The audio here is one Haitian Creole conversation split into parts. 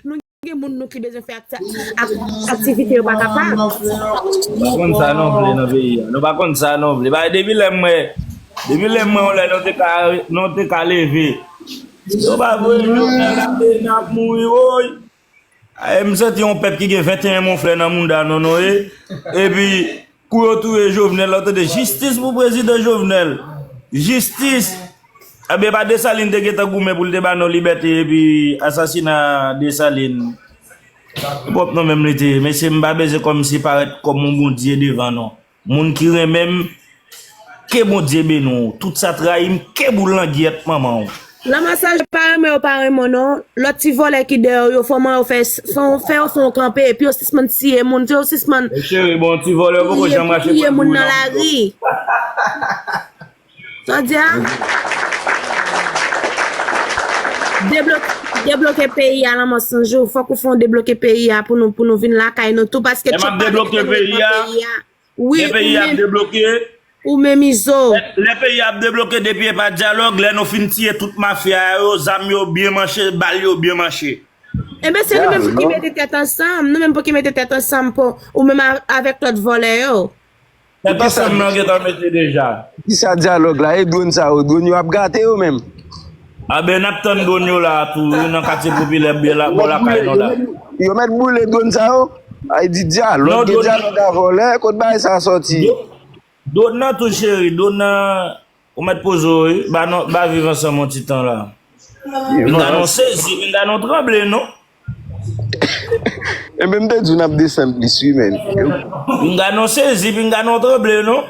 Nou gen moun nou ki bezwen fè aktivite yo pa kapab. Nou pa konn sa nou vle nan peyi a. Nou pa konn sa nou vle. Paske depi lè mwen, depi lè mwen yon lè nou te ka, nou te ka leve. Nou pa vle nou nan la peyi nan ap mouri woy. M santi yon pèp ki gen 21 monflè nan mouda nou nou ye. Epi. Kou yo touye jovenel la tande jistis pou prezidan jovenel jistis ebyen epa desalin te gentan goumen poul te ba nou libète epi asasina desalin se pwòp nou menm li te ye mesye m pa bezwen kòm se parèt kòm yon bondye devan nou moun ki renmenm Ke bondye beni w tout sa trayi m ke boul langyèt manman w. Ramassage pa renmen yo pa renmen w non lòt ti vòlè ki dèyè w yo fòman yo fè fè yo fè w kanpe epi yo sispann tiye moun yo sispann touye moun nan lari sa w di a debloke peyi a lanmò sanjou fòk ou fè yon debloke peyi a pou nou vin lakay nou tou paske tchòp pa vin fè nou vin pran peyi a. Lè peyi a ap debloke. Ou menm Izo. Lè peyi a ap debloke depi epa dyalòg lè nou fin tiye tout mafya yo zam yo byen manche bal yo byen manche. Enben se nou menm pou ki mete tèt ansanm nou menm pou ki mete tèt ansanm pou ou menm avèk lòt vòlè yo. Tèt ansanm nan gentan mete deja. Poukisa dyalòg la e dwon sa yo dwon yo ap gate yo menm. Anben nap tann dwon yo la a tou wi nan katye popilè byen la bò lakay nou la. Yo mèt boule dwon sa yo? Ay di dyalòg gen dyalòg a vòlè kot bagay sa sòti. Dwon nan tou cheri dwon nan ou mèt poze w wi ba nou ba viv ansanm yon ti tan la. Pinga nou sezi pinga nou tranble non. Enben m te di w nap desann plis wi menn. Pinga nou sezi pinga nou tranble non.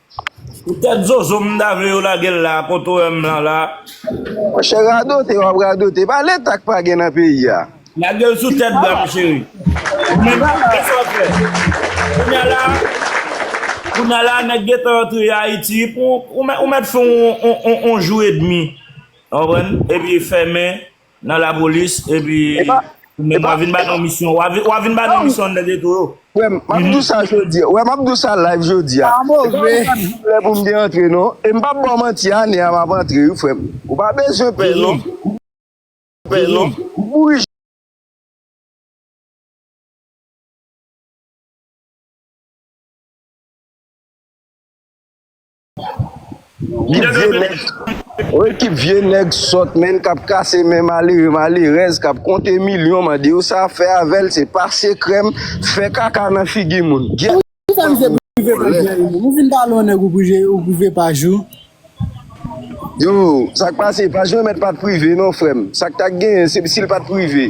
Pou tèt zozo m ta vle yo lagel la kote w wè m lan la. Monchè radote wap radote pa leta k pa gen nan peyi a. Lagel sou tèt bram cheri. Ou menm kisa w fè? Kounya la Kounya la nèg gentan antre Haïti pou ou mèt fè yon jou edmi ou konprann epi fèmen. Nan la polis epi men wap vin ban nou misyon wap vin ban nou misyon nèg eto yo. Wè m ap di w sa jodi a, wè m ap di w sa live jodi a. E pa yon kat pou lè pou m te antre non. E m pap ba w manti ane a m ap antre wi frè m. Ou pa bezwen pè non. Pè non. Ou kouri. Ki vye nèg wi ki vye nèg sòt menn kap kase men malere malerèz kap konte milyon mande yo sa fè avèl se pase krèm fè kaka nan figi moun gyèt fanm ou vòlè. Yo sak pase pa jwenn mèt pat prive non frèm sak ta genyen se sil pat prive.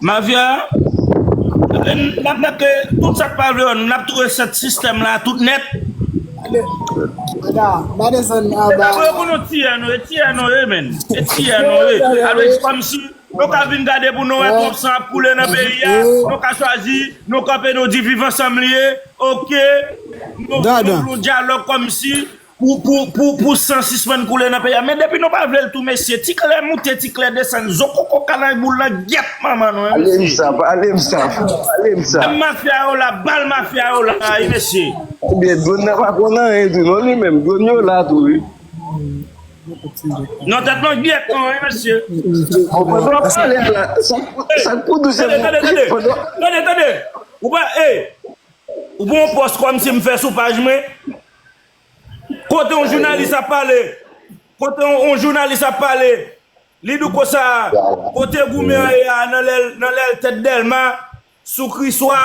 Mafya nap nap ke tout sak pa vle wè nou nap tou reset sistèm la tout nèt. Ba desann anba. Yo konn nou tiyano e tiyano ye menn e tiyano ye alwe di komsi nou ka vin gade pou nou wè twòp san ap koule nan peyi a nou ka chwazi nou kanpe nou di viv ansanm li ye ok nou vle yon dyalòg komsi Pou pou pou pou san sispann koule nan peyi a men depi nou pa vlel tou mesye ti kle moute ti kle desann zo koko kalanj boul nan gyèt manman nou wi mesye. Dam mafya yo la bal mafya yo la wi mesye. Ebyen drone nan pa konn anyen tou non li menm drone yo la tou wi. Non tèt nou gyèt tou wi mesye. Pandan wap pale a la sak pou dou se moun Tande tande ou pa e ou pa yon pòs kòmsi m fè sou paj mwen Kote yon jounalis ap pale Kote yon jounalis ap pale Li di konsa Kote goumen an ye a nan lè l tèt dèlma Sou kriswa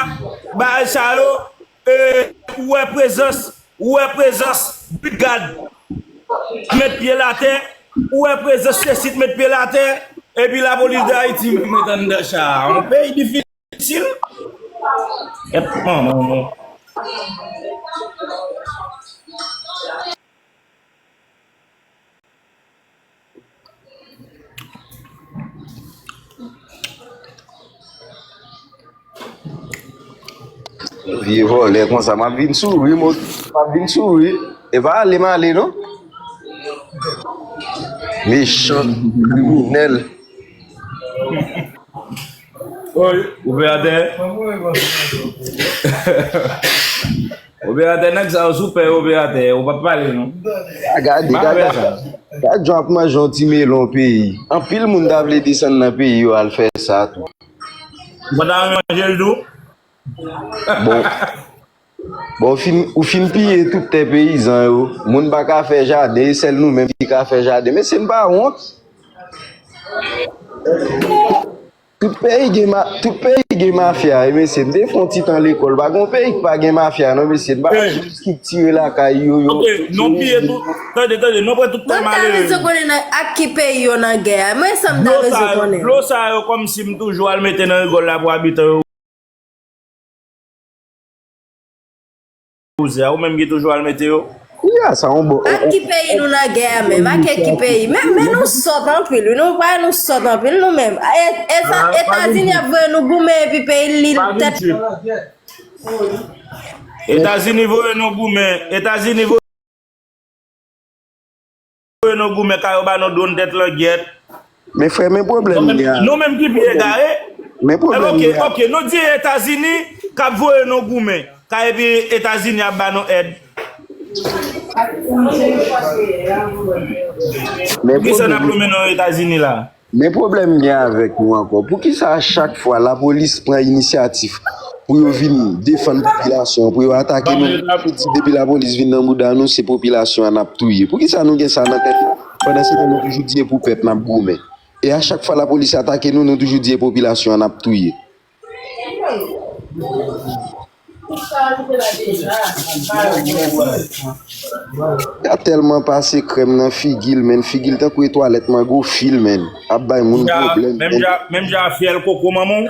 Bagay sa yo Ou wè prezans Ou wè prezans Bridgad T met pye l atè Ou wè prezans sesi t met pye l atè Epi lapolis dayiti Mwen t andan cha a Yon peyi difisil. Itil? Et manman nou. Vye vole konsa map vin souri mot map vin souri e pa ale m ale non mechan kriminel Operatè Operatè nèg sa yo sou pè operatè yo pa pale non A gade gade Gade jan ap manje yon ti melon peyi Anpil moun ta vle desann nan peyi yo al fè sa tou Ou pa ta renmen manjel tou? Bon Bon ou fin piye tout tè peyizan yo, moun pa ka fè jaden e sèl nou menm ki ka fè jaden. Mesye n pa wont? Tout peyi gen mafya yo mesye, m te fè yon ti tan lekòl, pa gen yon peyi ki pa gen mafya non mesye, n pa ka jis estriktire lakay yo. Ok, non piye tout, tande tande, non pran tout tè malere yo. Mwen ta bezwen konnen ak ki peyi yo nan gè a, mwen sa m ta bezwen konnen. Dlo sa yo kòmsi m toujou al mete nan rigòl la pou abitan yo. Bouzen a ou menm ki toujou al mete yo. Kounya sa yon bon. Ak ki peyi nou nan gè a menm? Ak ki peyi? Men nou sòt anpil wi. Nou pawe nou sòt anpil nou menm. Etazini ap voye nou goumen epi peyi li tèt. Pa vin trip. Etazini voye nou goumen. Etazini voye. Voye nou goumen ka yo ba nou dron tèt langyèt. Men frè men pwoblèm li a. Nou menm ki pi egare. Men pwoblèm li a. Ok ok nou di etazini kap voye nou goumen ka epi etazini ap ba nou èd. Poukisa nap lonmen nan etazini la. Men pwoblèm m gen avèk nou ankò, poukisa a chak fwa lapolis pran inisyatif pou yo vin defann popilasyon an, pou yo atake nou, nou di depi lapolis vin nan mouda nou se popilasyon an n ap touye? Poukisa nou gen sa nan tèt nou pandansetan nou toujou di e pou pèp n ap goumen? E a chak fwa lapolis atake nou, nou toujou di e popilasyon an n ap touye? Tap telman pase krem nan figil menn figil tankou e twalet mango fil menn ap bay moun problem menn. Menm jan a fyel koko manman w.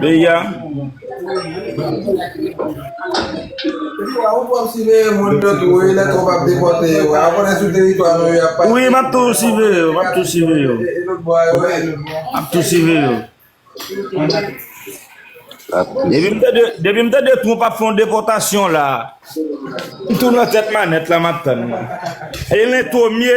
Peyi a. Wi map tou sive yo map tou sive yo map tou sive yo Depi m tande Trump ap fè yon depòtasyon la m tou nan tèt manèt la map tann li Elen Thomie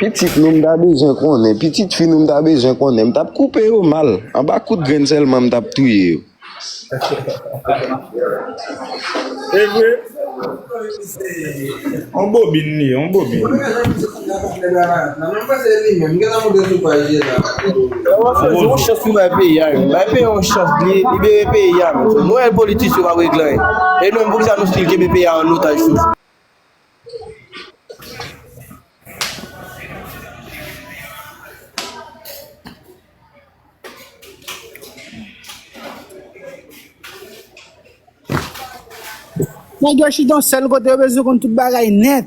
Pitit nou m ta bezwen konnen pitit fi nou m ta bezwen konnen m tap koupe yo mal anba kout grenn sèlman m tap touye yo. Evre se yon bobin li ye yon bobin. Nèg yo chita yon sèl kote yo bezwen konn tout bagay nèt.